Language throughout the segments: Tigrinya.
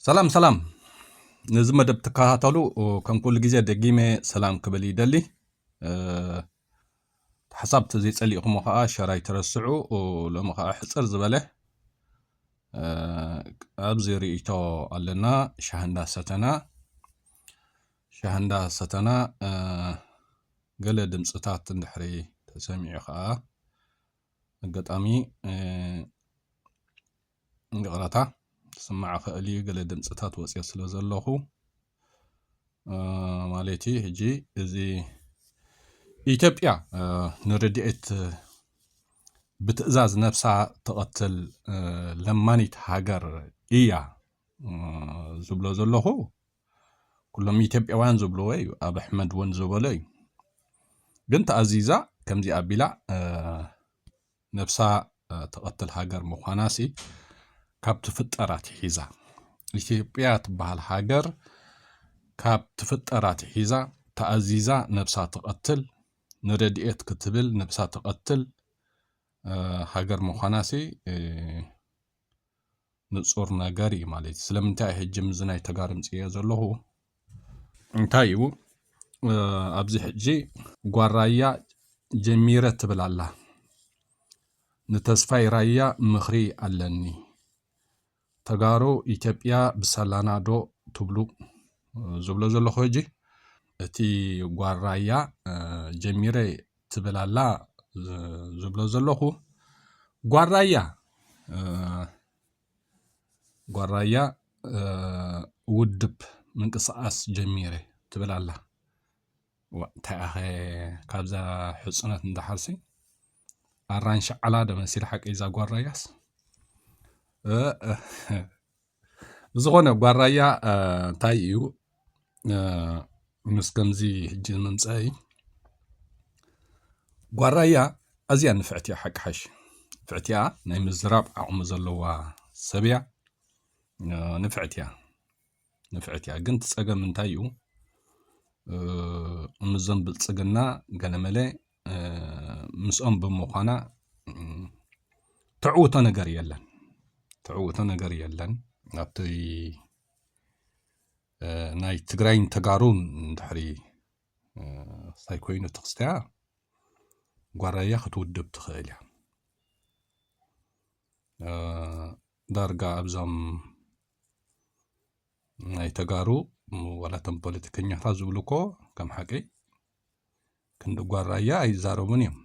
ሰላም ሰላም ነዚ መደብ ትከታተሉ ከም ኩሉ ግዜ ደጊመ ሰላም ክብል ይደሊ ሓሳብ ተዘይፀሊእኹሞ ከዓ ሸር ኣይትረስዑ ሎሚ ከዓ ሕፅር ዝበለ ኣብዚ ርእይቶ ኣለና ሻህ እንዳሰተና ሻህ እንዳሰተና ገለ ድምፅታት እንድሕሪ ተሰሚዑ ከዓ ኣጋጣሚ ይቕረታ ክስማዕ ይኽእል እዩ ገለ ድምፅታት ወፂኦ ስለ ዘለኹ ማለት እዩ ሕጂ እዚ ኢትዮጵያ ንረድኤት ብትእዛዝ ነብሳ ተቐትል ለማኒት ሃገር እያ ዝብሎ ዘለኹ ኩሎም ኢትዮጵያውያን ዝብልዎ እዩ ኣብ ኣሕመድ እውን ዝበሎ እዩ ግን ተኣዚዛ ከምዚ ኣቢላ ነብሳ ትቐትል ሃገር ምዃናሲ ካብ ትፍጠር ኣትሒዛ ኢትዮጵያ ትበሃል ሃገር ካብ ትፍጠር ኣትሒዛ ተኣዚዛ ነብሳ ትቐትል ንረድኤት ክትብል ነብሳ ተቐትል ሃገር ምዃናሲ ንፁር ነገር እዩ ማለት እዩ ስለምንታይ ሕጂ ምዚ ናይ ተጋሩ ምፅዮ ዘለኹ እንታይ እዩ ኣብዚ ሕጂ ጓል ራያ ጀሚረ ትብል ኣላ ንተስፋይ ራያ ምኽሪ ኣለኒ ተጋሩ ኢትዮጵያ ብሰላና ዶ ትብሉ ዝብሎ ዘለኹ ሕጂ እቲ ጓል ራያ ጀሚረ ትብል ኣላ ዝብሎ ዘለኹ ጓል ራያ ጓል ራያ ውድብ ምንቅስቓስ ጀሚረ ትብል ኣላ እንታይ ኣኸ ካብዛ ሕፁነት እንዳሓርሲ ኣራንሺ ዓላ ደመሲል ሓቂ እዛ ጓል ራያስ ብዝኾነ ጓል ራያ እንታይ እዩ ምስ ከምዚ ሕጂ ምምፀኢ ጓል ራያ ኣዝያ ንፍዕቲ እያ ሓቂ ሓሽ ንፍዕቲ እያ ናይ ምዝራብ ዓቕሚ ዘለዋ ሰብ እያ ንፍዕቲ እያ ንፍዕቲ እያ ግን ትፀገም እንታይ እዩ እምዞም ብልፅግና ገለመለ ምስኦም ብምዃና ተዕውቶ ነገር የለን ተዕውቶ ነገር የለን ኣብቲ ናይ ትግራይን ተጋሩን ድሕሪ ሳይ ኮይኑ ትኽስትያ ጓራያ ክትውድብ ትኽእል እያ ዳርጋ ኣብዞም ናይ ተጋሩ ዋላቶም ፖለቲከኛታት ዝብሉ እኮ ከም ሓቂ ክንዲ ጓል ራያ ኣይዛረቡን እዮም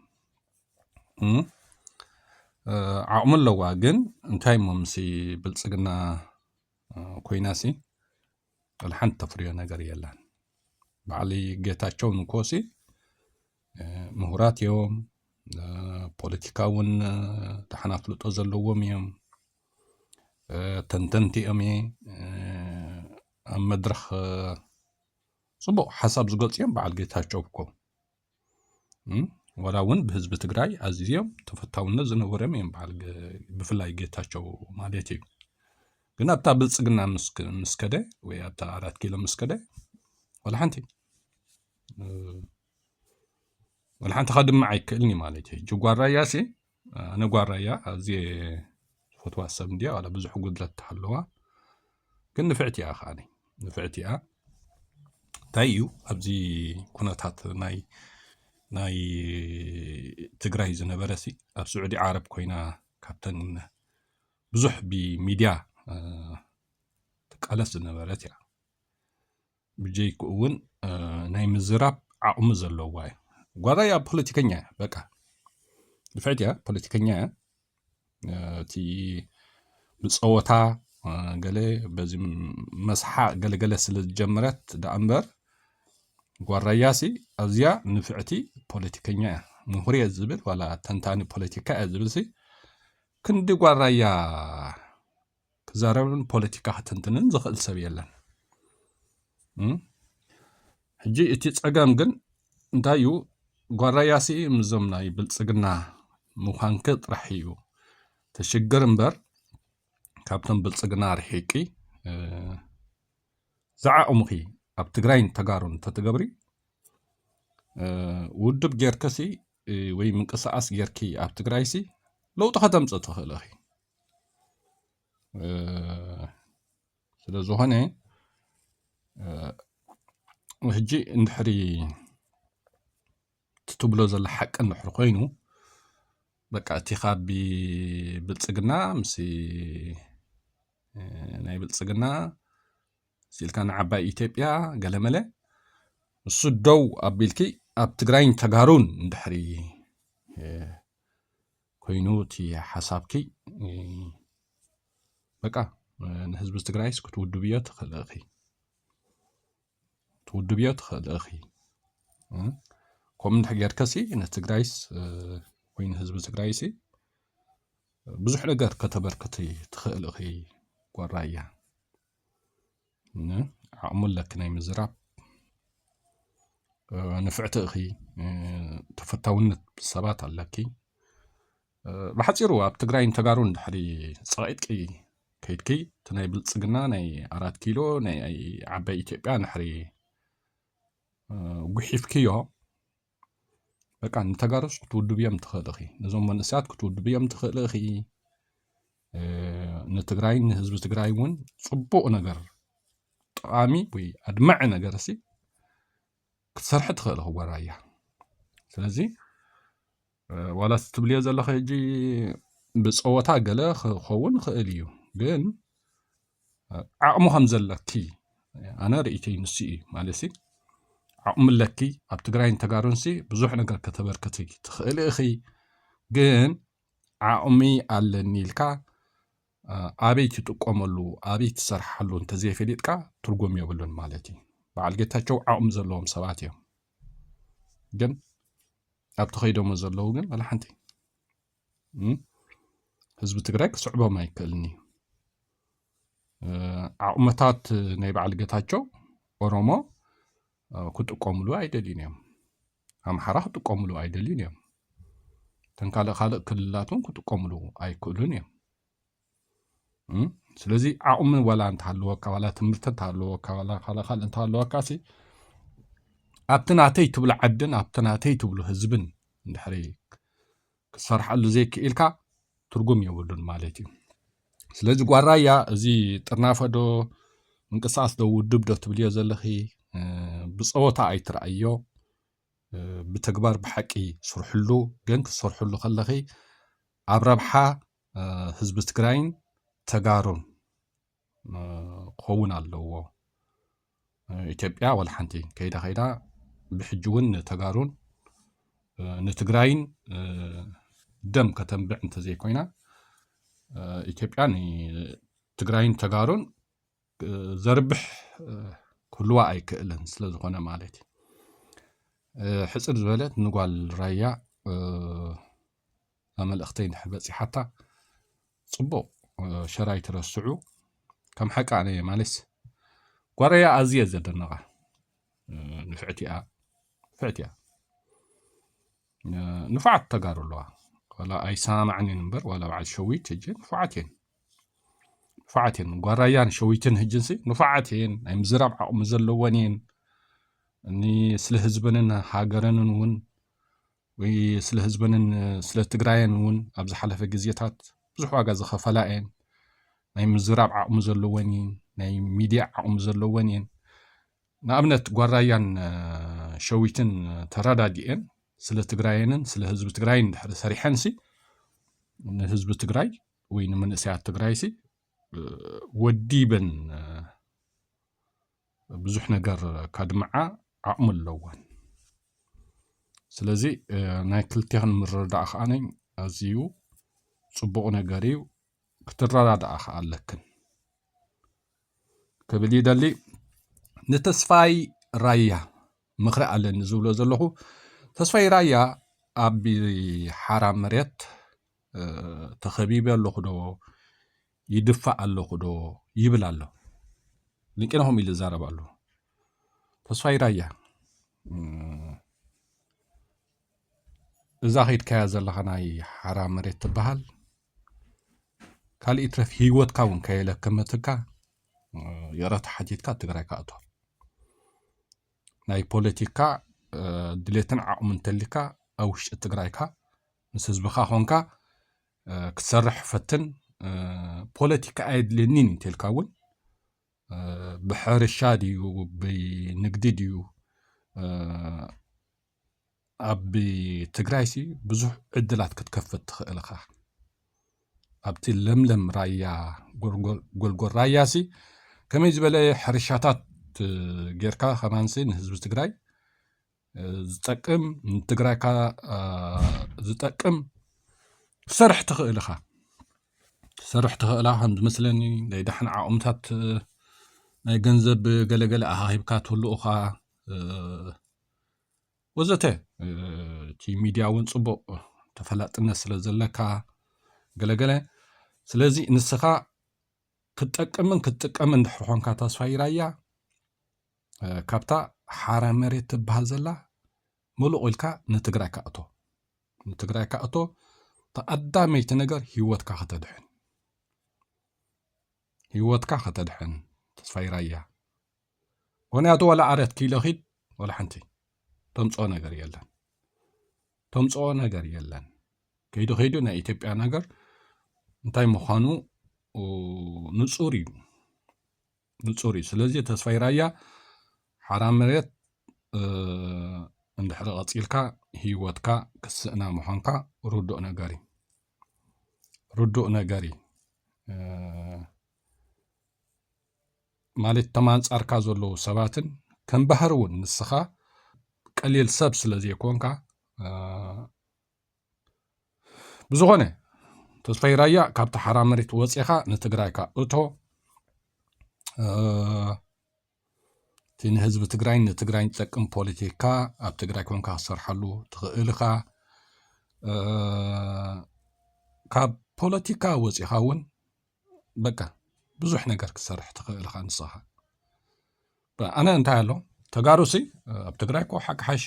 ዓቕሚ ኣለዋ ግን እንታይ እሞ ምስ ብልፅግና ኮይና ሲ ሓንቲ ተፍርዮ ነገር የላን በዓል ጌታቸው ንኮሲ ምሁራት እዮም ፖለቲካ እውን ዳሕና ፍልጦ ዘለዎም እዮም ተንተንቲ እዮም ኣብ መድረኽ ፅቡቅ ሓሳብ ዝገልፁ እዮም በዓል ጌታቸው እኮ ዋላ እውን ብህዝቢ ትግራይ ኣዝዮም ተፈታውነት ዝነበሮም እዮም በዓል ብፍላይ ጌታቸው ማለት እዩ ግን ኣብታ ብልፅግና ምስ ከደ ወይ ኣብታ ኣራት ኪሎ ምስ ከደ ዋላ ሓንቲ ዋላ ሓንቲ ከድምዕ ኣይክእልን ማለት እዩ ጅጓር ራያሲ ኣነ ጓል ራያ ኣዝየ ዝፈትዋ ሰብ እንድያ ዋላ ብዙሕ ጉድለት ተሃለዋ ግን ንፍዕቲ እያ ከዓኒ ንፍዕቲ እያ እንታይ እዩ ኣብዚ ኩነታት ናይ ናይ ትግራይ ዝነበረ ሲ ኣብ ስዑዲ ዓረብ ኮይና ካብተን ብዙሕ ብሚድያ ትቃለስ ዝነበረት እያ ብጀይክኡ ውን ናይ ምዝራብ ዓቕሚ ዘለዋ እዩ ጓላያ ፖለቲከኛ እያ በቃ ድፍዕት እያ ፖለቲከኛ እያ እቲ ብፀወታ ገለ በዚ መስሓቅ ገለገለ ስለ ዝጀመረት ደኣ እምበር ጓራያሲ ኣዝያ ንፍዕቲ ፖለቲከኛ እያ ምሁር እየ ዝብል ዋላ ተንታኒ ፖለቲካ እያ ዝብልሲ ክንዲ ጓራያ ክዛረብን ፖለቲካ ክትንትንን ዝኽእል ሰብ የለን ሕጂ እቲ ጸገም ግን እንታይ እዩ ጓራያሲ ምዞም ናይ ብልጽግና ምዃንክ ጥራሕ እዩ ተሽግር እምበር ካብቶም ብልጽግና ርሒቂ ዝዓቕሙኺ ኣብ ትግራይን ተጋሩን ተትገብሪ ውድብ ጌርክሲ ወይ ምንቅስቓስ ጌርኪ ኣብ ትግራይሲ ለውጢ ከተምፅእ ትኽእል ኢኺ ስለ ዝኾነ ሕጂ እንድሕሪ ትብሎ ዘሎ ሓቂ እንድሕሪ ኮይኑ በቃ እቲ ካብ ብልፅግና ምስ ናይ ብልፅግና ሲልካ ንዓባይ ኢትዮጵያ ገለመለ ንሱ ደው ኣቢልኪ ኣብ ትግራይን ተጋሩን እንድሕሪ ኮይኑ እቲ ሓሳብኪ በቃ ንህዝቢ ትግራይስ ክትውድብዮ ትኽእል እኺ ትውድብዮ ትኽእል እኺ ከምኡ እንድሕ ጌርከሲ ንትግራይስ ወይ ንህዝቢ ትግራይሲ ብዙሕ ነገር ከተበርክቲ ትኽእል ኢኺ ጓል ራያ ን ዓቕሙ ኣለኪ ናይ ምዝራብ ንፍዕቲ ኢኺ ተፈታውነት ሰባት ኣለኪ ብሓፂሩ ኣብ ትግራይን ተጋሩን ድሕሪ ፀቒጥቂ ከይድኪ እቲ ናይ ብልፅግና ናይ ኣራት ኪሎ ናይ ዓባይ ኢትዮጵያ ንሕሪ ጉሒፍክዮ በቃ ንተጋሩስ ክትውድብዮም ትኽእል ኢኺ ነዞም መንእሰያት ክትውድብዮም ትኽእል ኢኺ ንትግራይ ንህዝቢ ትግራይ እውን ፅቡቕ ነገር ጠቓሚ ወይ ኣድማዒ ነገር ሲ ክትሰርሒ ትኽእል ኢኺ ጓራያ ስለዚ ዋላ ትብልዮ ዘለኺ ሕጂ ብፀወታ ገለ ክኸውን ይኽእል እዩ ግን ዓቕሚ ከም ዘለኪ ኣነ ርእይቶይ ንሱ እዩ ማለት ዓቕሚ ኣለኪ ኣብ ትግራይን ተጋሩንሲ ብዙሕ ነገር ከተበርክቲ ትኽእሊ እኺ ግን ዓቕሚ ኣለኒ ኢልካ ኣበይ ትጥቀመሉ ኣበይ ትሰርሓሉ እንተዘይፈሊጥካ ትርጉም የብሉን ማለት እዩ በዓል ጌታቸው ዓቕሚ ዘለዎም ሰባት እዮም ግን ኣብቲ ከይዶሞ ዘለዉ ግን ወላ ሓንቲ ህዝቢ ትግራይ ክስዕቦም ኣይክእልን እዩ ዓቕመታት ናይ በዓል ገታቸው ኦሮሞ ክጥቀሙሉ ኣይደልዩን እዮም ኣምሓራ ክጥቀሙሉ ኣይደልዩን እዮም ተንካልእ ካልእ ክልላትን ክጥቀሙሉ ኣይክእሉን እዮም ስለዚ ዓቕሚ ዋላ እንተሃለወካ ዋላ ትምህርቲ እንተሃለወካ ዋላ ካልእ ካልእ እንተሃለወካ ሲ ኣብቲ ናተይ ትብሎ ዓድን ኣብቲ ናተይ ትብሎ ህዝብን እንድሕሪ ክትሰርሓሉ ዘይክኢልካ ትርጉም የብሉን ማለት እዩ ስለዚ ጓራያ እዚ ጥርናፈዶ ምንቅስቃስ ዶ ውድብ ዶ ትብልዮ ዘለኺ ብፀወታ ኣይትረኣዮ ብተግባር ብሓቂ ስርሕሉ ግን ክትሰርሕሉ ከለኺ ኣብ ረብሓ ህዝቢ ትግራይን ተጋሩን ክኸውን ኣለዎ። ኢትዮጵያ ወላ ሓንቲ ከይዳ ከይዳ ብሕጂ እውን ንተጋሩን ንትግራይን ደም ከተንብዕ እንተዘይኮይና ኢትዮጵያ ንትግራይን ተጋሩን ዘርብሕ ክህልዋ ኣይክእልን ስለ ዝኾነ ማለት እዩ ሕፅር ዝበለት ንጓል ራያ መልእኽተይ ንድሕር በፂሓታ ፅቡቕ ሸራ ይትረስዑ ከም ሓቂ ኣነ ማለስ ጓል ራያ ኣዝየ ዘደነቓ ንፍዕቲ እያ ፍዕቲ እያ ንፉዓት ተጋሩ ኣለዋ ዋላ ኣይሰማማዕን እየን እምበር ዋላ በዓል ሸዊት ሕጂ ንፉዓት እየን ንፉዓት እየን ጓራያን ሸዊትን ሕጅንሲ ንፉዓት እየን ናይ ምዝራብ ዓቕሚ ዘለወን እየን እኒ ስለ ህዝበንን ሃገረንን እውን ወይ ስለ ህዝበንን ስለ ትግራየን እውን ኣብ ዝሓለፈ ግዜታት ብዙሕ ዋጋ ዝኸፈላ እየን ናይ ምዝራብ ዓቕሚ ዘለወን እየን ናይ ሚድያ ዓቕሚ ዘለወን እየን ንኣብነት ጓል ራያን ሸዊትን ተራዳዲኤን ስለ ትግራየንን ስለ ህዝቢ ትግራይን ድሕሪ ሰሪሐንሲ ንህዝቢ ትግራይ ወይ ንምንእሰያት ትግራይሲ ወዲበን ብዙሕ ነገር ከድምዓ ዓቕሚ ኣለወን ስለዚ ናይ ክልቲኽን ምርዳእ ከዓ ነኝ ኣዝዩ ፅቡቕ ነገር እዩ ክትረዳድኣ ከዓ ኣለክን ክብል ይደሊ ንተስፋይ ራያ ምኽሪ ኣለኒ ዝብሎ ዘለኹ ተስፋይ ራያ ኣብ ሓራ መሬት ተኸቢበ ኣለኹ ዶ ይድፋእ ኣለኹ ዶ ይብል ኣሎ ንቄነኹም ኢሉ ይዛረብ ኣሎ ተስፋይ ራያ እዛ ከይድካያ ዘለኻ ናይ ሓራ መሬት ትበሃል ካልእ ይትረፍ ሂወትካ እውን ከየለከመትካ ይቕረታ ሓቲትካ ትግራይካ ኣትዋ ናይ ፖለቲካ ድሌትን ዓቕሚ እንተልካ ኣብ ውሽጢ ትግራይካ ምስ ህዝብኻ ኮንካ ክትሰርሕ ፈትን ፖለቲካ ኣየድልየኒን እንተልካ እውን ብሕርሻ ድዩ ብንግዲ ድዩ ኣብ ትግራይሲ ብዙሕ ዕድላት ክትከፍት ትኽእል ኢኻ። ኣብቲ ለምለም ራያ ጎልጎል ራያሲ ከመይ ዝበለ ሕርሻታት ጌርካ ከማንሲ ንህዝቢ ትግራይ ዝጠቅም ንትግራይካ ዝጠቅም ክሰርሕ ትኽእል ኢኻ ክሰርሕ ትኽእላ ከም ዝመስለኒ ናይ ዳሕና ዓቕምታት ናይ ገንዘብ ገለገለ ኣሃሂብካ ትህሉ እኻ ወዘተ እቲ ሚድያ እውን ፅቡቕ ተፈላጥነት ስለ ዘለካ ገለገለ ስለዚ ንስኻ ክትጠቅምን ክትጥቀም እንድሕር ኾንካ ተስፋይ ራያ ካብታ ሓራ መሬት ትበሃል ዘላ ምሉቕ ኢልካ ንትግራይ ካእቶ ንትግራይ ካእቶ ተቐዳመይቲ ነገር ህይወትካ ከተድሕን ህይወትካ ከተድሕን ተስፋይ ራያ ምክንያቱ ዋላ ዓረት ኪሎ ኪድ ዋላ ሓንቲ ተምፅኦ ነገር የለን ተምፅኦ ነገር የለን ከይዱ ከይዱ ናይ ኢትዮጵያ ነገር እንታይ ምዃኑ ንፁር እዩ ንፁር እዩ ስለዚ ተስፋይ ራያ ሓራ መሬት እንድሕሪ ቀፂልካ ህይወትካ ክስእና ምዃንካ ርዱእ ነገር እዩ ርዱእ ነገር እዩ ማለት እቶም ኣንጻርካ ዘለዉ ሰባትን ከም ባህሪ እውን ንስኻ ቀሊል ሰብ ስለ ዘይኮንካ ብዝኾነ ተስፋይ ራያ ካብቲ ሓራ መሬት ወፂኻ ንትግራይካ እቶ እቲ ንህዝቢ ትግራይን ንትግራይን ዝጠቅም ፖለቲካ ኣብ ትግራይ ኮንካ ክሰርሓሉ ትኽእል ኢኻ ካብ ፖለቲካ ወፂኻ እውን በቃ ብዙሕ ነገር ክትሰርሕ ትኽእል ኢኻ ንስኻ ኣነ እንታይ ኣሎ ተጋሩ ሲ ኣብ ትግራይ እኮ ሓቂ ሓሽ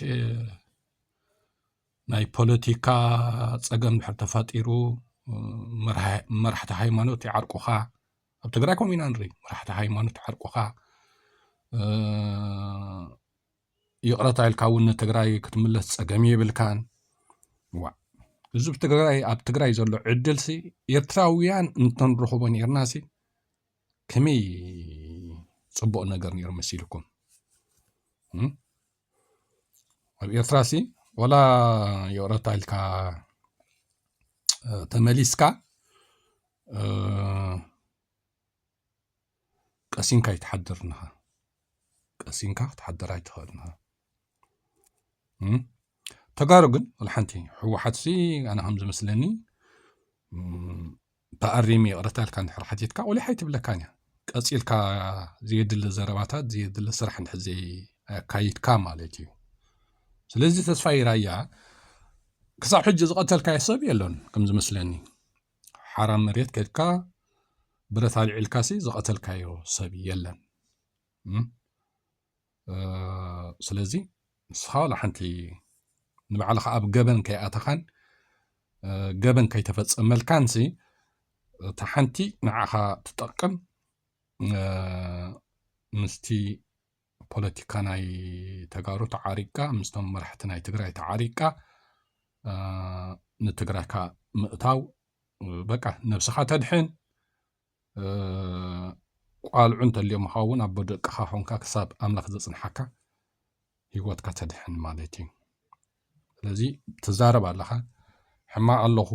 ናይ ፖለቲካ ፀገም ድሕር ተፈጢሩ መራሕቲ ሃይማኖት ይዓርቁኻ ኣብ ትግራይ ከምኡ ኢና ንርኢ መራሕቲ ሃይማኖት ይዓርቁኻ ይቕረታ ኢልካ እውን ንትግራይ ክትምለስ ፀገም የብልካን ዋእ ህዝቢ ትግራይ ኣብ ትግራይ ዘሎ ዕድልሲ ኤርትራውያን እንተንረኽቦ ነርናሲ ከመይ ፅቡቕ ነገር ነይሩ መሲልኩም ኣብ ኤርትራሲ ወላ ይቕረታ ኢልካ ተመሊስካ ቀሲንካ ኣይትሓድርን ኢኻ ቀሲንካ ክትሓድር ኣይትኽእልን ኢኻ ተጋሩ ግን ሓንቲ ህወሓትሲ ኣነ ከም ዝመስለኒ ተኣሪሚ ይቕረታ ኢልካ ንድሕር ሓቲትካ ቆሊሓ ኣይትብለካን እያ ቀፂልካ ዘየድሊ ዘረባታት ዘየድሊ ስራሕ ንድሕር ዘየካይድካ ማለት እዩ ስለዚ ተስፋ ይራያ ክሳብ ሕጂ ዝቐተልካዮ ሰብ የሎን ከም ዝመስለኒ ሓራ መሬት ከድካ ብረት ኣልዒልካሲ ዝቐተልካዮ ሰብ የለን ስለዚ ንስኻ ዋላ ሓንቲ ንባዕልኻ ኣብ ገበን ከይኣተኻን ገበን ከይተፈፀመልካን ሲ እታ ሓንቲ ንዓኻ ትጠቅም ምስቲ ፖለቲካ ናይ ተጋሩ ተዓሪቅካ ምስቶም መራሕቲ ናይ ትግራይ ተዓሪቅካ ንትግራይካ ምእታው በቃ ነብስኻ ተድሕን ቋልዑ እንተልዮምኻ ኸውን ኣቦ ደቅኻ ኮንካ ክሳብ ኣምላኽ ዘጽንሓካ ህይወትካ ተድሕን ማለት እዩ ስለዚ ትዛረብ ኣለኻ ሕማቕ ኣለኹ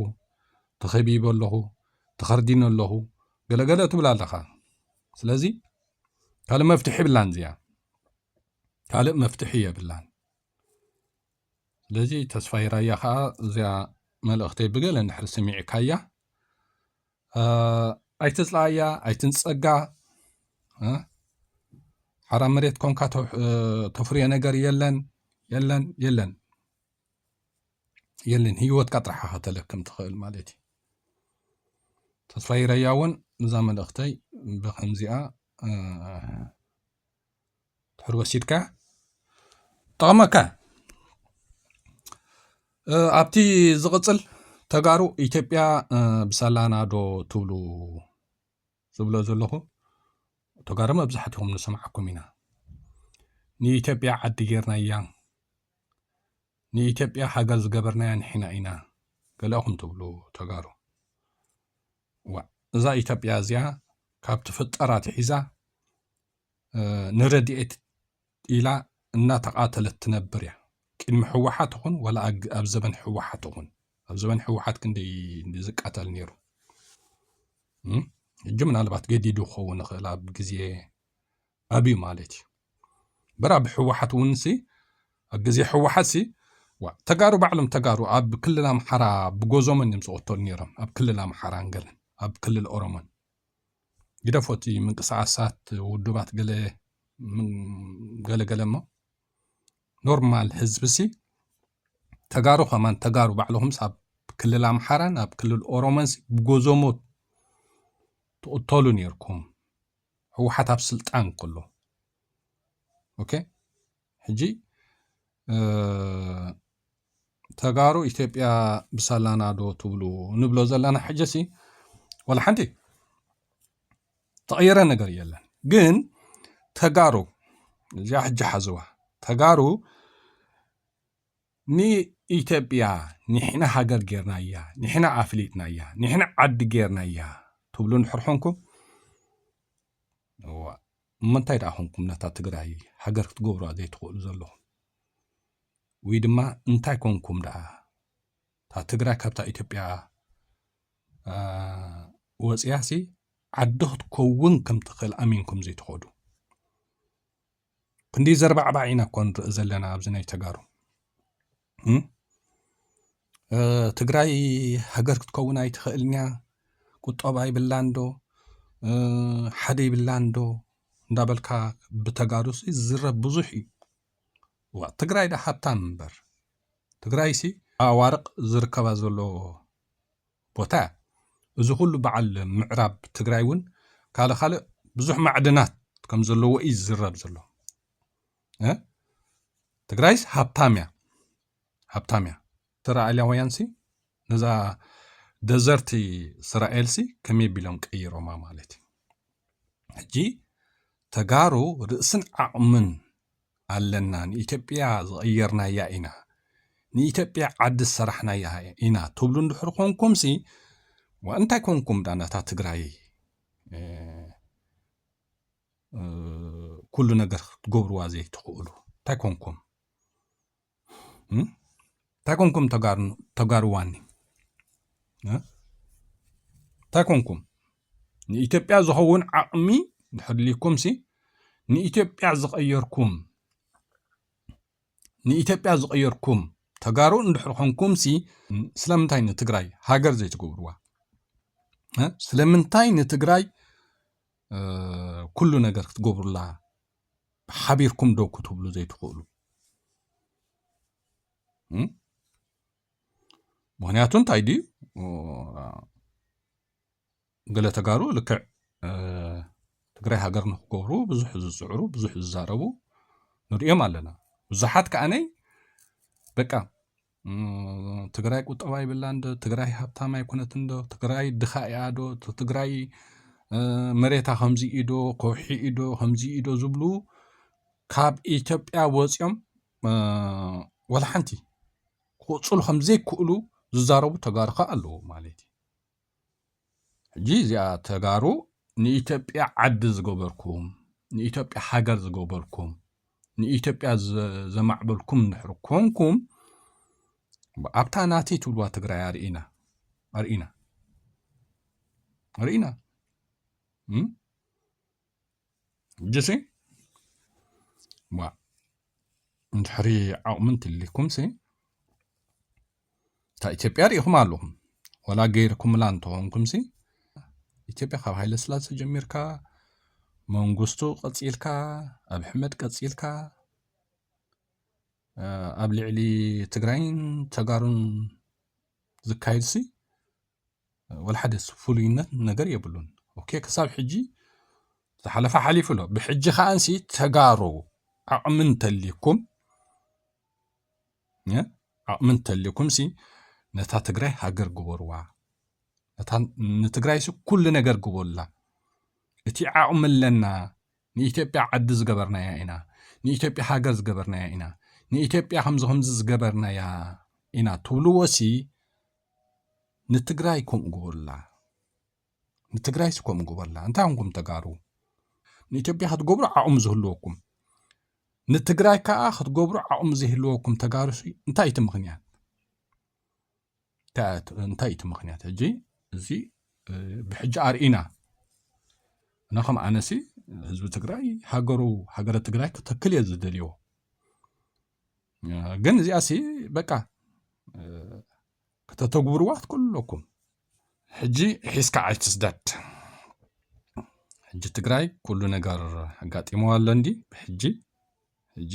ተኸቢበ ኣለኹ ተኸርዲነ ኣለኹ ገለገለ ትብል ኣለኻ ስለዚ ካልእ መፍትሒ የብላን እዚኣ ካልእ መፍትሒ የብላን ስለዚ ተስፋይ ራያ ከዓ እዚኣ መልእኽተይ ብገለ እንድሕር ስሚዕካያ ኣይትፅላኣያ ኣይትንፀጋ ሓራ መሬት ኮንካ ተፍርዮ ነገር የለን የለን የለን የለን ህይወትካ ጥራሕ ከተለክም ትኽእል ማለት እዩ ተስፋ ይረያ እውን እዛ መልእኽተይ ብከምዚኣ ድሕሪ ወሲድካ ጠቕመካ ኣብቲ ዝቕፅል ተጋሩ ኢትዮጵያ ብሰላና ዶ ትብሉ ዝብሎ ዘለኹ ተጋሩ መብዛሕትኹም ንሰምዓኩም ኢና ንኢትዮጵያ ዓዲ ጌርናያ ንኢትዮጵያ ሃገር ዝገበርናያ ንሕና ኢና ገለኹም ትብሉ ተጋሩ ዋእ እዛ ኢትዮጵያ እዚኣ ካብ ትፍጠር ኣትሒዛ ንረድኤት ኢላ እናተቓተለት ትነብር እያ። ቅድሚ ሕወሓት ይኹን ወላ ኣብ ዘበን ሕወሓት ይኹን ኣብ ዘበን ሕወሓት ክንደይ ዝቃተል ነይሩ ሕጂ ምናልባት ገዲዱ ክኸውን ይኽእል ኣብ ግዜ ኣብዩ ማለት እዩ እምበር ኣብ ሕወሓት እውን ሲ ኣብ ግዜ ሕወሓት ሲ ዋ ተጋሩ ባዕሎም ተጋሩ ኣብ ክልል ኣምሓራ ብጎዞመን እዮም ዝቕተሉ ነይሮም ኣብ ክልል ኣምሓራን ገለን ኣብ ክልል ኦሮሞን ግደፎቲ ምንቅስቃሳት ውድባት ገለ ገለገለ እሞ ኖርማል ህዝቢ ሲ ተጋሩ ከማን ተጋሩ ባዕልኹም ኣብ ክልል ኣምሓራን ኣብ ክልል ኦሮሞን ብጎዞሞ ትቕተሉ ነርኩም ህወሓት ኣብ ስልጣን ከሎ ኦኬ ሕጂ ተጋሩ ኢትዮጵያ ብሳላና ዶ ትብሉ ንብሎ ዘለና ሕጀሲ ዋላ ሓንቲ ተቐየረ ነገር የለን ግን ተጋሩ እዚኣ ሕጂ ሓዝዋ ተጋሩ ንኢትዮጵያ ንሕና ሃገር ጌርናያ፣ ንሕና ኣፍሊጥናያ፣ ንሕና ዓዲ ጌርናያ ትብሉ እንድሕር ኾንኩም እዋእ እሞ እንታይ ደኣ ኾንኩም ነታ ትግራይ ሃገር ክትገብሩዋ ዘይትኽእሉ ዘለኹም ወይ ድማ እንታይ ኮንኩም ደኣ እታ ትግራይ ካብታ ኢትዮጵያ ወፅያሲ ዓዲ ክትከውን ከም ትኽእል ኣሚንኩም ዘይትኸዱ ክንደይ ዘርባዕባዕ ኢና እኮ ንርኢ ዘለና ኣብዚ ናይ ተጋሩ ትግራይ ሃገር ክትከውን ኣይትኽእልን እያ ቁጠባ ይብላን ዶ ሓደ ይብላን ዶ እንዳበልካ ብተጋሩ ዝዝረብ ብዙሕ እዩ ዋ ትግራይ ዳ ሃብታም እምበር ትግራይ ሲ ኣዋርቕ ዝርከባ ዘሎ ቦታ እያ። እዚ ኩሉ በዓል ምዕራብ ትግራይ እውን ካልእ ካልእ ብዙሕ ማዕድናት ከም ዘለዎ እዩ ዝዝረብ ዘሎ። እ ትግራይስ ሃብታም እያ ሃብታም እያ። እስራኤላውያንሲ ነዛ ደዘርቲ እስራኤልሲ ከመይ ቢሎም ቀይሮማ ማለት እዩ። ሕጂ ተጋሩ ርእስን ዓቕምን ኣለና ንኢትዮጵያ ዝቐየርናያ ኢና ንኢትዮጵያ ዓዲ ዝሰራሕናያ ኢና ትብሉ እንድሕር ኮንኩምሲ ዋ እንታይ ኮንኩም ዳ ነታ ትግራይ ኩሉ ነገር ክትገብርዋ ዘይትኽእሉ እንታይ ኮንኩም እንታይ ኮንኩም ተጋሩዋኒ እንታይ ኮንኩም ንኢትዮጵያ ዝኸውን ዓቕሚ ድሕድልኩም ሲ ንኢትዮጵያ ዝቐየርኩም ንኢትዮጵያ ዝቐየርኩም ተጋሩ እንድሕር ኮንኩም ሲ ስለምንታይ ንትግራይ ሃገር ዘይትገብርዋ ስለምንታይ ንትግራይ ኩሉ ነገር ክትገብሩላ ሓቢርኩም ዶ ክትብሉ ዘይትኽእሉ ምክንያቱ እንታይ ድዩ ገለ ተጋሩ ልክዕ ትግራይ ሃገር ንክገብሩ ብዙሕ ዝፅዕሩ ብዙሕ ዝዛረቡ ንሪኦም ኣለና ብዙሓት ከዓነይ በቃ ትግራይ ቁጠባ ይብላ እንዶ ትግራይ ሃብታም ኣይኮነት እንዶ ትግራይ ድኻ እያ ዶ ትግራይ መሬታ ከምዚ ኢዶ ከውሒ ኢዶ ከምዚ ኢዶ ዝብሉ ካብ ኢትዮጵያ ወፂኦም ወላ ሓንቲ ክቕፅሉ ከምዘይክእሉ ዝዛረቡ ተጋሩ ከዓ ኣለዉ ማለት እዩ ሕጂ እዚኣ ተጋሩ ንኢትዮጵያ ዓዲ ዝገበርኩም ንኢትዮጵያ ሃገር ዝገበርኩም ንኢትዮጵያ ዘማዕበልኩም እንድሕር ኮንኩም ኣብታ ናተይ ትብልዋ ትግራይ ኣርእና ኣርእና ኣርእና ሕጂሲ እባ እንድሕሪ ዓቕሚ እንትልይኩምሲ እታ ኢትዮጵያ ርኢኹም ኣለኹም ወላ ገይርኩምላ እንተኾንኩምሲ ኢትዮጵያ ካብ ሃይለ ስላሴ ጀሚርካ መንግስቱ ቀፂልካ ኣብ ሕመድ ቀፂልካ ኣብ ልዕሊ ትግራይን ተጋሩን ዝካየድሲ ወልሓደ ፍሉይነት ነገር የብሉን ኦኬ ክሳብ ሕጂ ዝሓለፈ ሓሊፉ ኣሎ ብሕጂ ከዓንሲ ተጋሩ ዓቕሚ እንተልዩኩም ዓቕሚ እንተልዩኩም ሲ ነታ ትግራይ ሃገር ግበርዋ ነታ ንትግራይ ሲ ኩሉ ነገር ግበሩላ እቲ ዓቕሚ ኣለና ንኢትዮጵያ ዓዲ ዝገበርናያ ኢና ንኢትዮጵያ ሃገር ዝገበርናያ ኢና ንኢትዮጵያ ከምዚ ከምዚ ዝገበርናያ ኢና ትብልዎ ሲ ንትግራይ ከምኡ ግበሩላ ንትግራይሲ ከምኡ ግበሩላ እንታይ ኮንኩም ተጋሩ ንኢትዮጵያ ክትገብሩ ዓቕሚ ዝህልወኩም ንትግራይ ከዓ ክትገብሩ ዓቕሚ ዘይህልወኩም ተጋሩሲ እንታይ እቲ ምክንያት እንታይ እቲ ምክንያት ሕጂ እዚ ብሕጂ ኣርኢና እና ከም ኣነሲ ህዝቢ ትግራይ ሃገሩ ሃገረ ትግራይ ክተክል እየ ዝደልዮ ግን እዚኣ ሲ በቃ ከተተግብርዋ ክትክእሉለኩም ሕጂ ሒዝካ ኣይትስደድ ሕጂ ትግራይ ኩሉ ነገር ኣጋጢመዋ ኣሎ እንዲ ብሕጂ ሕጂ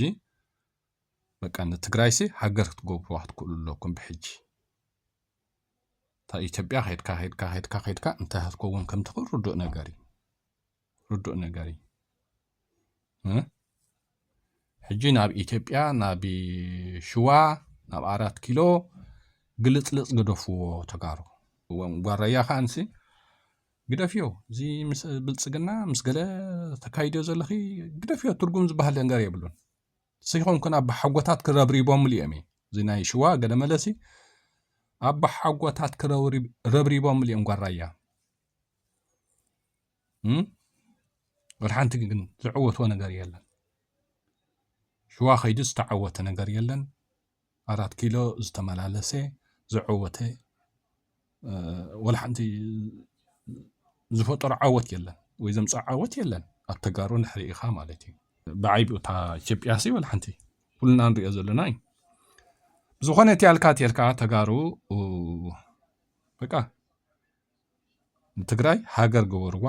በቃ ንትግራይ ሲ ሃገር ክትገብርዋ ክትክእሉ ኣለኩም ብሕጂ እታ ኢትዮጵያ ከድካ ከድካ ከድካ ከድካ እንታይ ክትከውን ከም ትኽእል ርዱእ ነገር እዩ ርዱእ ነገር እዩ ሕጂ ናብ ኢትዮጵያ ናብ ሽዋ ናብ ኣራት ኪሎ ግልፅልፅ ግደፍዎ ተጋሩ ጓረያ ከዓ ንሲ ግደፍዮ እዚ ምስ ብልፅግና ምስ ገለ ተካይድዮ ዘለኺ ግደፍዮ ትርጉም ዝበሃል ነገር የብሉን ስይኮንኩን ኣባ ሓጎታት ክረብሪቦምሉ እዮም እዩ እዚ ናይ ሽዋ ገለ መለሲ ኣባ ሓጎታት ክረብሪቦምሉ እዮም ጓራያ ወድሓንቲ ግን ዝዕወትዎ ነገር የለን ሽዋ ከይዱ ዝተዓወተ ነገር የለን ኣራት ኪሎ ዝተመላለሰ ዝዕወተ ወላሓንቲ ዝፈጠሮ ዓወት የለን ወይ ዘምፅ ዓወት የለን ኣብ ተጋሩ ንሕሪ ኢኻ ማለት እዩ ብዓይብ እታ ኢትዮጵያ ሲ ወላሓንቲ ኩልና ንሪኦ ዘለና እዩ ዝኾነ እቲ ያልካ ተልካ ተጋሩ በቃ ንትግራይ ሃገር ግበርዋ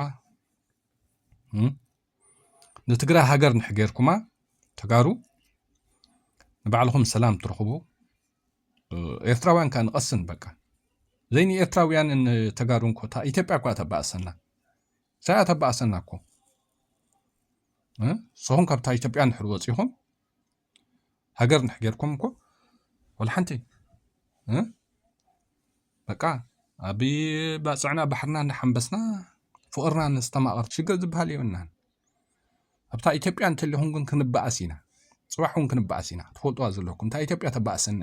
ንትግራይ ሃገር ንሕ ጌርኩማ ተጋሩ ንባዕልኹም ሰላም ትረኽቡ ኤርትራውያን ከዓ ንቐስን በቃ ዘይ ንኤርትራውያንን ተጋሩን ኮታ ኢትዮጵያ እኳ ተባእሰና ሳያ ተባእሰና እኮ ንስኹም ካብታ ኢትዮጵያ ንሕር ወፂኹም ሃገር እንድሕር ጌርኩም እኮ ወላ ሓንቲ በቃ ኣብ ባፅዕና ባሕርና እንዳሓንበስና ፍቕርና ነስተማቕር ሽግር ዝበሃል የብልናን ኣብታ ኢትዮጵያ እንተለኹም ግን ክንበኣስ ኢና ፅባሕ እውን ክንበኣስ ኢና ትፈልጥዋ ዘለኩም እታ ኢትዮጵያ ተባእሰና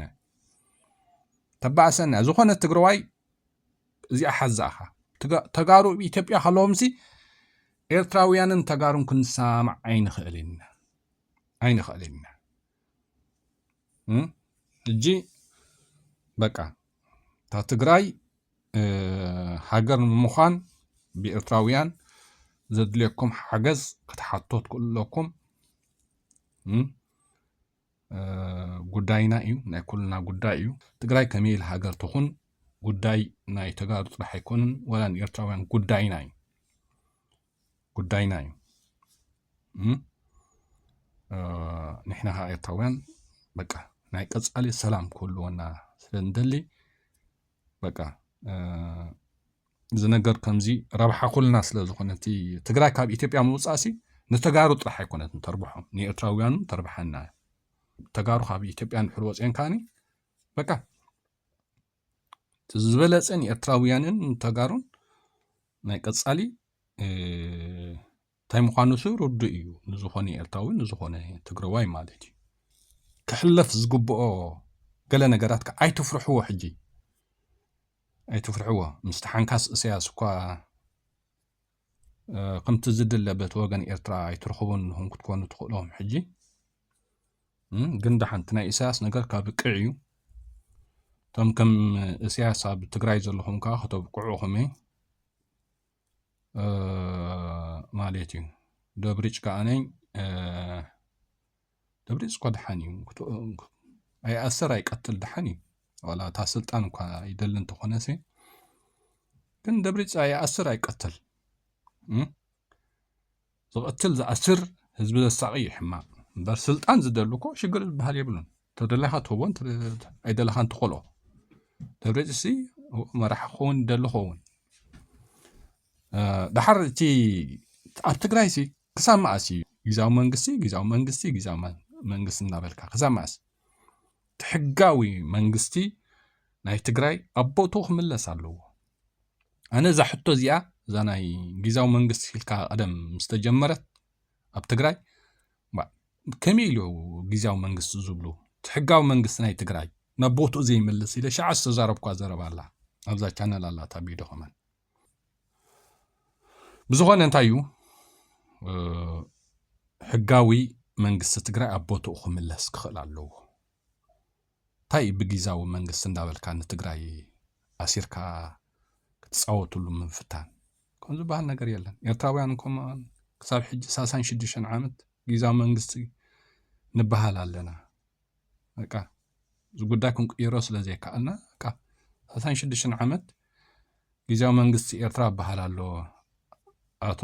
ተባእሰና ዝኾነ ትግራዋይ እዚኣ ሓዛእኻ ተጋሩ ኢትዮጵያ ከለዎምሲ ኤርትራውያንን ተጋሩን ክንሰማማዕ ኣይንኽእልን ኢና ኣይንኽእልን ኢና እጂ በቃ እታ ትግራይ ሃገር ንምዃን ብኤርትራውያን ዘድልየኩም ሓገዝ ክትሓቶ ትክእሉ ኣለኩም ጉዳይና እዩ ናይ ኩልና ጉዳይ እዩ ትግራይ ከመይ ኢል ሃገር ትኹን ጉዳይ ናይ ተጋሩ ጥራሕ ኣይኮንን ወላ ንኤርትራውያን ጉዳይና እዩ ጉዳይና እዩ ንሕና ከዓ ኤርትራውያን በቃ ናይ ቀፃሊ ሰላም ክህልወና ስለ ንደሊ በቃ እዚ ነገር ከምዚ ረብሓ ኩልና ስለ ዝኾነ እቲ ትግራይ ካብ ኢትዮጵያ ምውፃእ ሲ ንተጋሩ ጥራሕ ኣይኮነት ንተርብሖም ንኤርትራውያኑ ተርብሓና ተጋሩ ካብ ኢትዮጵያ ንድሕር ወፅአን ከዓኒ በቃ እቲ ዝበለፀ ንኤርትራውያንን ንተጋሩን ናይ ቀፃሊ እንታይ ምዃኑ ሱ ርዱእ እዩ ንዝኾነ ኤርትራዊ ንዝኾነ ትግረዋይ ማለት እዩ ክሕለፍ ዝግብኦ ገለ ነገራት ከዓ ኣይትፍርሕዎ ሕጂ ኣይትፍርሕዎ ምስቲ ሓንካስ እሰያስ እኳ ከምቲ ዝድለ በቲ ወገን ኤርትራ ኣይትረኽቡን ንኹም ክትኮኑ ትኽእሎም ሕጂ ግን ደሓንቲ ናይ ኢሳያስ ነገር ካብ ቅዕ እዩ እቶም ከም እሳያስ ኣብ ትግራይ ዘለኹም ከዓ ከተብቅዑኹም እየ ማለት እዩ ደብሪጭ ከዓነይ ደብሪፅ እኳ ድሓን እዩ ኣይኣሰር ኣይቀትል ድሓን እዩ ዋላ እታ ስልጣን እኳ ይደሊ እንተኾነሰ ግን ደብሪፅ ኣይኣስር ኣይቀትል ዝቐትል ዝኣስር ህዝቢ ዘሳቂ እዩ ሕማቅ እምበር ስልጣን ዝደሉ እኮ ሽግር ዝበሃል የብሉን ተደላኻ ትህቦ ኣይደለኻ እንትኾልኦ ደብሪፅ ሲ መራሒ ክኸውን ይደሊ ኸውን ድሓር እቲ ኣብ ትግራይ ሲ ክሳብ መዓስ እዩ ግዛዊ መንግስቲ ግዛዊ መንግስቲ ግዛዊ መንግስቲ እናበልካ ክሳብ መዓስ እቲ ሕጋዊ መንግስቲ ናይ ትግራይ ኣብ ቦትኡ ክምለስ ኣለዎ ኣነ እዛ ሕቶ እዚኣ እዛ ናይ ግዛዊ መንግስቲ ኢልካ ቀደም ምስ ተጀመረት ኣብ ትግራይ ከመይ ኢሉ ግዛዊ መንግስቲ ዝብሉ እቲ ሕጋዊ መንግስቲ ናይ ትግራይ ናብ ቦትኡ ዘይመልስ ኢለ ሸዓ ዝተዛረብኳ ዘረባ ኣላ ኣብዛ ቻነል ኣላታ ቢዶ ከመን ብዝኾነ እንታይ እዩ ሕጋዊ መንግስቲ ትግራይ ኣብ ቦትኡ ክምለስ ክኽእል ኣለዎ። እንታይ እዩ ብጊዛዊ መንግስቲ እንዳበልካ ንትግራይ ኣሲርካ ክትፃወትሉ ምፍታን ከም ዝበሃል ነገር የለን። ኤርትራውያን ከም ክሳብ ሕጂ ሳሳን ሽዱሽተን ዓመት ጊዛዊ መንግስቲ ንበሃል ኣለና። በቃ እዚ ጉዳይ ክንቅይሮ ስለ ዘይከኣልና በቃ ሰላሳን ሽዱሽተን ዓመት ግዜያዊ መንግስቲ ኤርትራ ይበሃል ኣሎ ኣቶ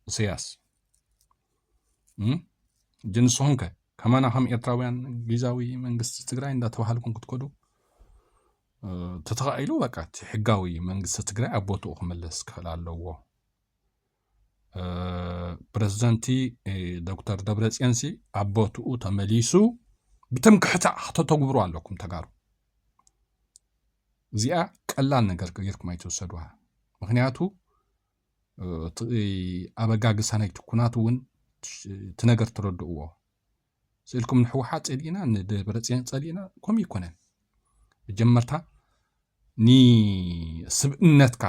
እሰያስ እጂ ንስኹም ከ ከማና ከም ኤርትራውያን ግዛዊ መንግስቲ ትግራይ እንዳተባሃልኩም ክትከዱ ተተኻኢሉ በቃ እቲ ሕጋዊ መንግስቲ ትግራይ ኣብ ቦትኡ ክምለስ ክኽእል ኣለዎ ፕረዚደንቲ ዶክተር ደብረፅዮንሲ ኣብ ቦትኡ ተመሊሱ ብትምክሕታ ከተተግብሩ ኣለኩም ተጋሩ እዚኣ ቀላል ነገር ጌርኩም ኣይትወሰድዋ ምክንያቱ እቲ ኣበጋግሳ ናይቲ ኩናት እውን እቲ ነገር ትረድእዎ ስእልኩም ንሕወሓት ጸሊእና ንደብረጽዮን ጸሊእና ከምኡ ይኮነን መጀመርታ ንስብእነትካ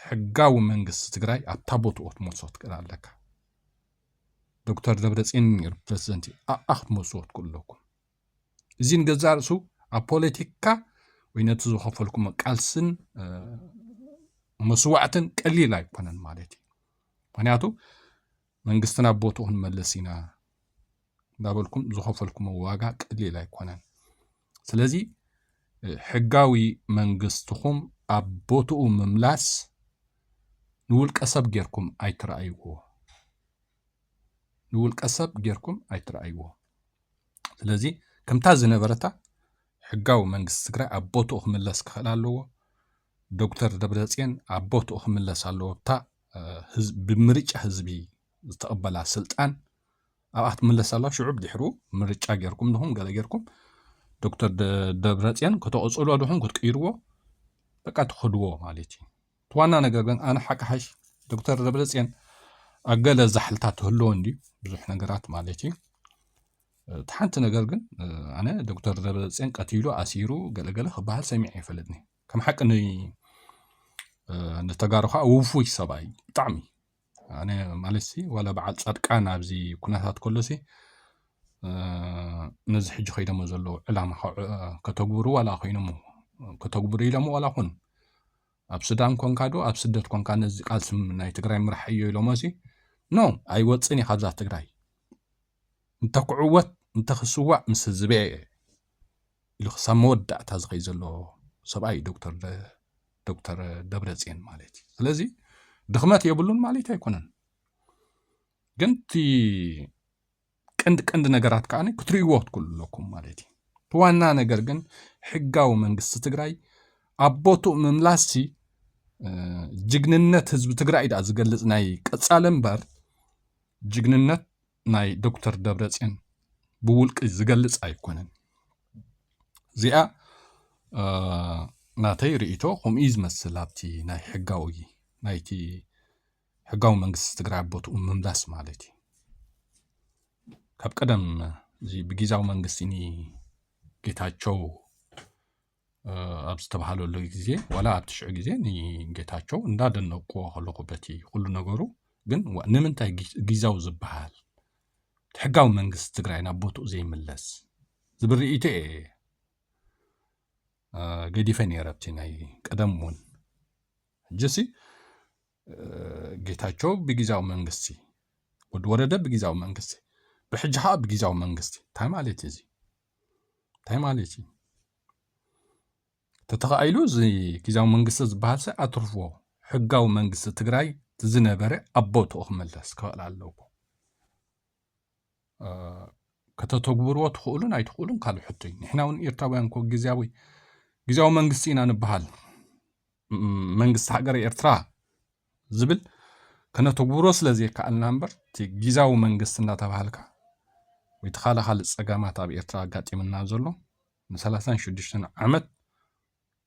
ሕጋዊ መንግስቲ ትግራይ ኣብታ ቦትኦ ክትመልሶ ትክእል ኣለካ ዶክተር ደብረጽዮን ነይሩ ፕረዚደንት እዩ ኣኣ ክትመልስዎ ትክእሉ ኣለኩም እዚ ንገዛ ርእሱ ኣብ ፖለቲካ ወይ ነቲ ዝኸፈልኩም ቃልስን መስዋዕትን ቀሊል ኣይኮነን ማለት እዩ ምክንያቱ መንግስቲ ናብ ቦትኡ ክንመልስ ኢና እንዳበልኩም ዝኸፈልኩሞ ዋጋ ቀሊል ኣይኮነን። ስለዚ ሕጋዊ መንግስትኹም ኣብ ቦትኡ ምምላስ ንውልቀ ሰብ ጌርኩም ኣይትረኣይዎ፣ ንውልቀ ሰብ ጌርኩም ኣይትረኣይዎ። ስለዚ ከምታ ዝነበረታ ሕጋዊ መንግስቲ ትግራይ ኣብ ቦትኡ ክምለስ ክኽእል ኣለዎ። ዶክተር ደብረፅዮን ኣብ ቦትኡ ክምለስ ኣለዎ። እታ ብምርጫ ህዝቢ ዝተቐበላ ስልጣን ኣብኣ ክትምለስ ኣላ ሽዑ ድሕሩ ምርጫ ጌርኩም ድኹም ገለ ጌርኩም ዶክተር ደብረፅዮን ከተቐፅሎ ድኹም ክትቅይርዎ በቃ ትኸድዎ ማለት እዩ እቲ ዋና ነገር ግን ኣነ ሓቅሓሽ ዶክተር ደብረፅዮን ኣብ ገለ ዛሕልታት ትህልዎ እንድዩ ብዙሕ ነገራት ማለት እዩ እቲ ሓንቲ ነገር ግን ኣነ ዶክተር ደብረፅዮን ቀቲሉ ኣሲሩ ገለገለ ክበሃል ሰሚዐ ይፈልጥኒ ከም ሓቂ ንተጋሩ ከዓ ውፉይ ሰብኣይ ብጣዕሚ ኣነ ማለት ሲ ዋላ በዓል ፃድቃን ኣብዚ ኩነታት ከሎ ሲ ነዚ ሕጂ ከይዶሞ ዘለዉ ዕላማ ከተግብሩ ዋላ ኮይኖሞ ከተግብሩ ኢሎሞ ዋላ ኩን ኣብ ሱዳን ኮንካ ዶ ኣብ ስደት ኮንካ ነዚ ቃልሲ ናይ ትግራይ ምራሕ እዮ ኢሎሞ ሲ ኖ ኣይወፅን እዩ ካብዛ ትግራይ እንተክዕወት እንተክስዋእ ምስ ህዝበ እየ ኢሉ ክሳብ መወዳእታ ዝኸይ ዘሎ ሰብኣይ እዩ ዶክተር ዶክተር ደብረፅዮን ማለት እዩ ስለዚ ድኽመት የብሉን ማለት ኣይኮነን ግን እቲ ቀንዲ ቀንዲ ነገራት ከዓ ክትርእይዎ ክትክእሉ ኣለኩም ማለት እዩ እቲ ዋና ነገር ግን ሕጋዊ መንግስቲ ትግራይ ኣብ ቦትኡ ምምላስ ጅግንነት ህዝቢ ትግራይ ድኣ ዝገልፅ ናይ ቀፃሊ እምበር ጅግንነት ናይ ዶክተር ደብረፅዮን ብውልቂ ዝገልፅ ኣይኮነን እዚኣ ናተይ ርእይቶ ከምኡ እዩ ዝመስል ኣብቲ ናይ ሕጋዊ ናይቲ ሕጋዊ መንግስቲ ትግራይ ኣብ ቦትኡ ምምላስ ማለት እዩ ካብ ቀደም እዚ ብጊዛዊ መንግስቲ ጌታቸው ኣብ ዝተባሃለሉ ግዜ ዋላ ኣብቲ ሽዑ ግዜ ንጌታቸው እንዳደነቅዎ ከለኹ በቲ ኩሉ ነገሩ ግን ንምንታይ ጊዛው ዝበሃል ሕጋዊ መንግስቲ ትግራይ ናብ ቦትኡ ዘይምለስ ዝብል ርእይቶ እየ ገዲፈ ነይረ ኣብቲ ናይ ቀደም እውን ሕጂሲ ጌታቸው ብጊዛዊ መንግስቲ ወዲ ወረደ ብጊዛዊ መንግስቲ ብሕጂ ከዓ ብጊዛዊ መንግስቲ እንታይ ማለት እዩ እዚ እንታይ ማለት እዩ ተተኻኢሉ እዚ ግዜያዊ መንግስቲ ዝበሃል ሰ ኣትርፍዎ ሕጋዊ መንግስቲ ትግራይ ዝነበረ ኣብ ቦትኡ ክመለስ ክኽእል ኣለዎ ከተተግብርዎ ትኽእሉን ኣይትኽእሉን ካልእ ሕቶ እዩ ንሕና እውን ኤርትራውያን ኮ ግዜያዊ ግዜያዊ መንግስቲ ኢና ንበሃል መንግስቲ ሃገረ ኤርትራ ዝብል ከነተግብሮ ስለ ዘይከኣልና እምበር እቲ ጊዛዊ መንግስቲ እናተባሃልካ ወይ እቲ ካልእ ካልእ ጸገማት ኣብ ኤርትራ ኣጋጢምና ዘሎ ንሰላሳን ሽዱሽተን ዓመት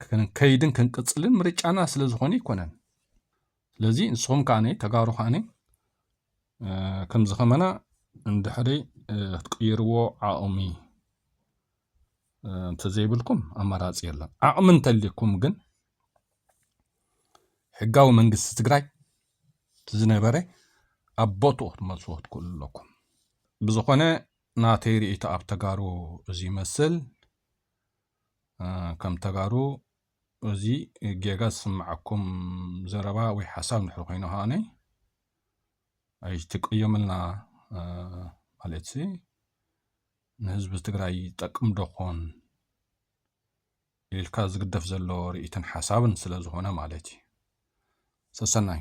ክንከይድን ክንቅጽልን ምርጫና ስለ ዝኾነ ኣይኮነን ስለዚ ንስኹም ከዓኒ ተጋሩ ከዓኒ ከምዚ ከመና እንድሕሪ ክትቅይርዎ ዓቕሚ እንተዘይብልኩም ኣማራፂ የለን። ዓቕሚ እንተልይኩም ግን ሕጋዊ መንግስቲ ትግራይ ዝነበረ ኣብ ቦትኡ ክትመልስዎ ትክእሉ ኣለኩም። ብዝኾነ ናተይ ርእይቶ ኣብ ተጋሩ እዚ ይመስል። ከም ተጋሩ እዚ ጌጋ ዝስምዓኩም ዘረባ ወይ ሓሳብ ንድሕሪ ኮይኑ ከዓነ ኣይትቀየሙልና ማለት ንህዝቢ ትግራይ ይጠቅም ዶ ኾን ኢልካ ዝግደፍ ዘሎ ርኢትን ሓሳብን ስለ ዝኾነ ማለት እዩ። ሰሰናዩ!